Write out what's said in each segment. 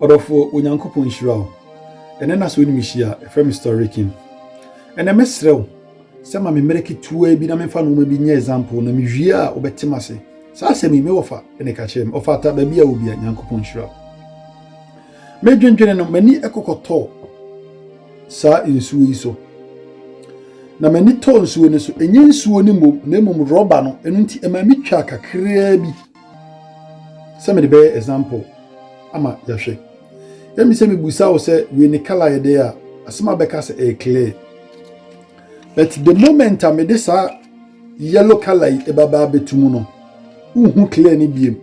Ɔdɔfoɔ, Onyankopɔn nhyira wo. Ɛnɛ na sɛ wonim hyia a, ɛfrɛ me Storykin. Ɛnɛ mɛsrɛ wo sɛ ma me mmerɛ ketewa bi na memfa nnoɔma bi nyɛ example na mewie a wobɛte m ase. Saa asɛm yi me wɔfa na ɛka kyerɛ me. Ɔfata baabi a wobia, Nyankopɔn nhyira wo. Medwendwene no, m'ani ɛkɔkɔtɔɔ saa nsuo yi so. Na m'ani tɔɔ nsuo no so. Ɛnyɛ nsuo no mmom, na mmom rɔba no. Ɛno nti ɛmaa me twaa kakraa bi. sɛ mede bɛyɛ example ama yɛahwɛ ɛmi sɛ mebusa wo sɛ wei ne color yɛ dɛ a asɛm a bɛka sɛ ɛyɛ clear but the moment a mede saa yellow color yi ɛbabaa bɛtu mu no wohu clear ne biem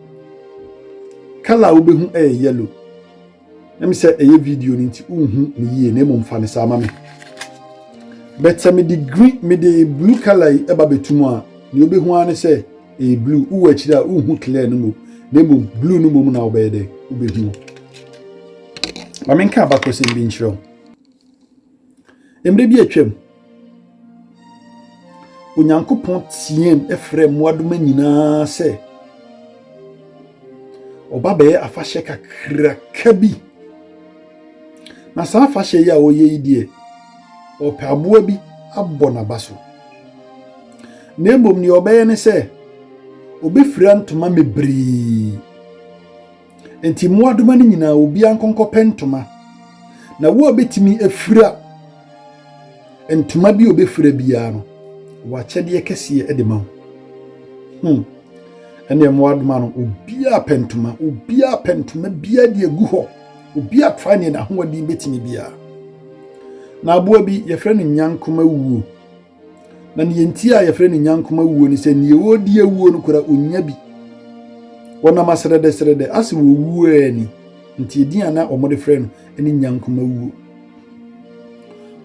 color a wobɛhu ɛyɛ yellow Ɛm sɛ ɛyɛ video no nti wonhu no yie na mmom fa no saa ma me. But sɛ mede green mede blue color yi ɛba bɛtu mu a nea wobɛhu ara ne sɛ ɛyɛ blue. Wowɔ akyiri a wonhu clear no mmom na mmom blue no mmom na wobɛyɛ dɛ wobɛhu. Ma menka abakɔsɛm bi nkyerɛ wo. Mmerɛ bi atwam, Onyankopɔn teaam frɛɛ mmoadoma nyinaa sɛ wɔba bɛyɛ afahyɛ kakraka bi. Na saa afahyɛ yi a wɔyɛ yi deɛ, wɔpɛ aboa bi abɔ n'aba so. Na mmom deɛ wɔbɛyɛ ne sɛ, wɔbɛfira ntoma bebree. Enti mmoadoma no nyinaa, obiara nkɔnkɔpɛ ntoma. Na wo a obetumi afira ntoma bi a obefira biara no, w'akyɛdeɛ kɛseɛ de ma wo. Hmm. Ɛnneɛ mmoadoma no, obiara pɛ ntoma, obiara pɛ ntoma biara de agu hɔ. Obiara tra neɛ n'ahoɔden betumi biara. Na aboa bi, yɛfrɛ no nyankomawuo. Na nea enti a yɛfrɛ no nyankoma wuo ne sɛ nea ɔredi awuo no koraa ɔnnya bi. Wɔnam asrɛdɛsrɛdɛ ase wɔ owuo a ɛni nti edin a na wɔde frɛ no ne nyankoma wuo.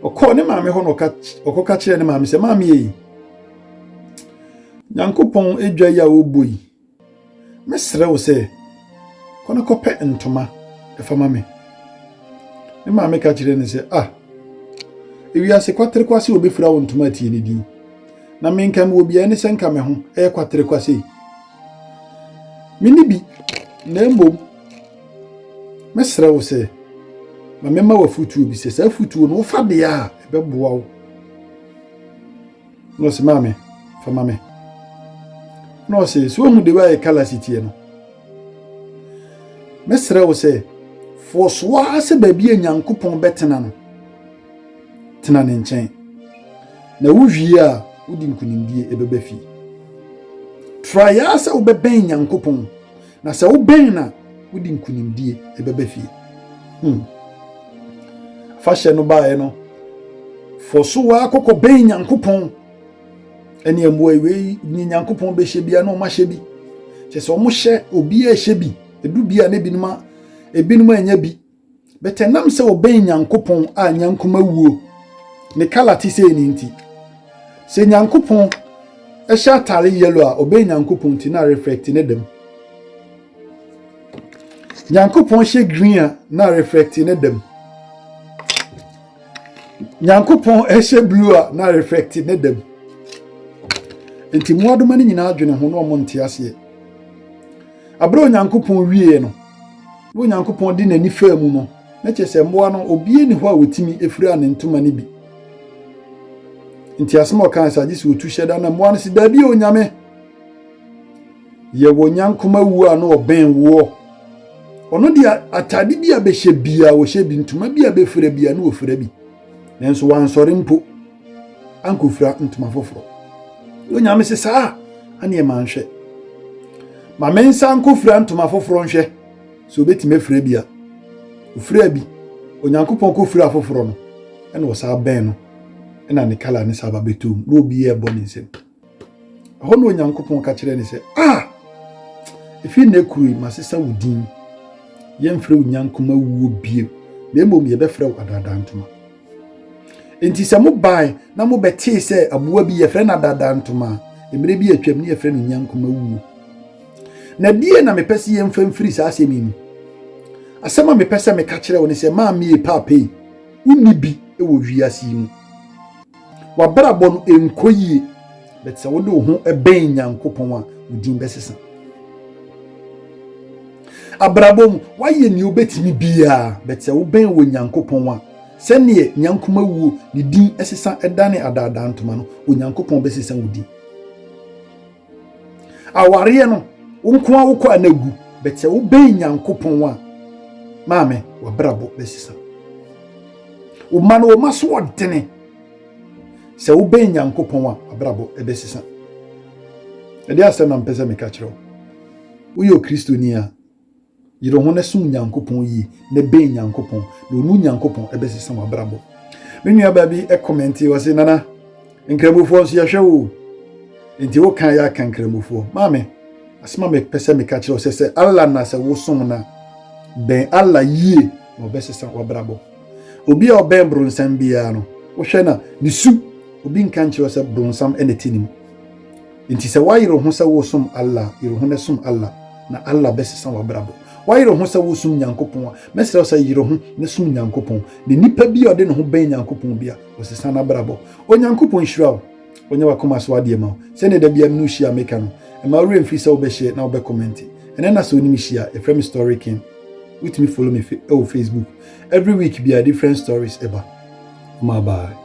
Ɔkɔɔ ne maame hɔ na ɔkɔka kyerɛɛ ne maame sɛ, Maame ei, Nyankopɔn dwa yi a ɔbɔ yi, Mɛsrɛ wo sɛ, kɔ na kɔpɛ ntoma fa ma me. Ne maame ka kyerɛɛ no sɛ, Ah, ewiase kwaterekwase obefura wo ntoma atie ne din. Na me nka mewɔ beae ne sɛ nka me ho yɛ kwaterekwase yi. Me ne bi, na mmom mɛsrɛ wo sɛ, ma memma w'afutuo bi sɛ saa afutuo no wofa deɛ a ɛbɛboa wo Na ɔse, Maame, fa ma me. Na ɔse, So woahu the way a colour si teɛ no? Mɛsrɛ wo sɛ, fɔɔ so ara sɛ baabi a Nyankopɔn bɛtena no, tena ne nkyɛn. Na wowie a, wode nkonimdie bɛba fie. Try ara sɛ wobɛbɛn Nyankopɔn Na sɛ wobɛn no a, wode nkonimdie ɛbɛba fie. Hmm. Afahyɛ no baeɛ no, fɔ so waa kɔkɔ bɛn Nyankopɔn ɛne mmoa wei ne Nyankopɔn bɛhyɛ bia na ɔma hyɛ bi. Kyɛ sɛ ɔmo hyɛ obiara hyɛ bi, edu bi a na ebinom a ebinom anya bi. But ɛnam sɛ ɔbɛn Nyankopɔn a nyankoma wuo ne kala te sei no nti, sɛ Nyankopɔn hyɛ atare yellow a ɔbɛn Nyankopɔn nti na reflect ne dam. Nyankopɔn hyɛ green a na reflect ne dam. Nyankopɔn hyɛ blue a na reflect ne dam. Nti mmoadoma no nyinaa adwene ho na wɔn nte aseɛ. Bere a Onyankopɔn wieeɛ no, na Onyankopɔn de n'ani faa mu no, na kyerɛ sɛ mmoa no, obiara nni hɔ a otumi firaa ne ntoma no bi. Nti asɛm a ɔkae sɛ agye sɛ otu hyɛ da na mmoa no se, Dabi, Onyame! Yɛwɔ nyankoma wu a na ɔbɛn woɔ. Ɔno deɛ atade bi a bɛhyɛ biara ɔhyɛ bi, ntoma bi a bɛfira biara na ɔfira bi. Nanso wansɔre mpo. ankɔfira ntoma foforɔ. Onyame se saa a, aneɛ ma nhwɛ. Ma me nsa nkɔfira ntoma foforɔ nhwɛ sɛ ɔbɛtumi afira bi a. Ɔfira bi, Onyankopɔn kɔfira foforɔ no, ɛna ɔsaa bɛn no, ɛna ne kala ne saa ba bɛtoo mu, na obiara bɔ ne nsam. Ɛhɔ na Onyankopɔn ka kyerɛ no sɛ, A! Ɛfiri nnɛ kuro yi, masesa wo din. Yɛmfrɛ wo Nyankoma wuo bio, na mmom yɛbɛfrɛ wo Adaadaa Ntoma. Enti sɛ mobae na mobɛtee sɛ aboa bi yɛfrɛ no Adaadaa Ntoma a, mmerɛ bi atwam ne yɛfrɛ no Nyankoma wuo. Na die na mepɛ sɛ yɛmfa mfiri saa asɛm yi mu? Asɛm a mepɛ sɛ meka kyerɛ wo ne sɛ, maame yi, paapa yi, wonni bi wɔ wiase yi mu. W'abrabɔ no nkɔ yie, but sɛ wode wo ho bɛn Nyankopɔn a, wo din bɛsesa. Abrabɔ mu, woayɛ nea wobɛtumi biara, but sɛ wobɛn wɔ Nyankopɔn a, sɛdeɛ Nyankoma wuo ne din sesa dane adaadaa ntoma no, Onyankopɔn bɛsesa wo din. Awareɛ no, wo nko ara wokɔ a na agu, but sɛ wobɛn Nyankopɔn a, maame, wabrabɔ bɛsesa. Woma no woma so ɔdene. Sɛ wobɛn Nyankopɔn a, wabrabɔ ɛbɛsesa. Ɛde asɛm na mpɛ sɛ meka kyerɛ wo. Woyɛ Okristoni a, Yere ho na som Nyankopɔn yie na bɛn Nyankopɔn na ɔnu Nyankopɔn ɛbɛsesa wabrabɔ. Me nua baa bi ɛkɔmɛnti ɔse nana nkramofoɔ nso yɛhwɛ wo nti wo kan yɛ aka nkramofoɔ. Maame asema me pɛsɛ me ka kyerɛ sɛ sɛ Allah na sɛ wo som na bɛn Allah yie na ɔbɛsesa wabrabɔ. Obi a ɔbɛn bronsam biara no wohwɛ na ne su obi nka nkyerɛ sɛ bronsam ɛna ti ne mu. Enti sɛ woayere wo ho sɛ woresom Allah a, yere wo ho na som Allah, na Allah bɛsesa w'abrabɔ. Woayere wo ho sɛ woresom Nyankopɔn a, mɛsrɛ wo sɛ yere wo ho na som Nyankopɔn, na nnipa bi a ɔde ne ho bɛn Nyankopɔn bi a, ɔsesa n'abrabɔ. Onyankopɔn nhyira wo, ɔnyɛ w'akoma so adeɛ mma wo. Sɛdeɛ da biara me ne wo hyia a meka no, mma wo werɛ mfiri sɛ wobɛ share na wobɛ comment. Ɛnnɛ na sɛ wo ne me hyia a, yɛfrɛ me Story King. Wotumi follow me wɔ Facebook. Every week biara different stories ɛba. Ɔmaa bye.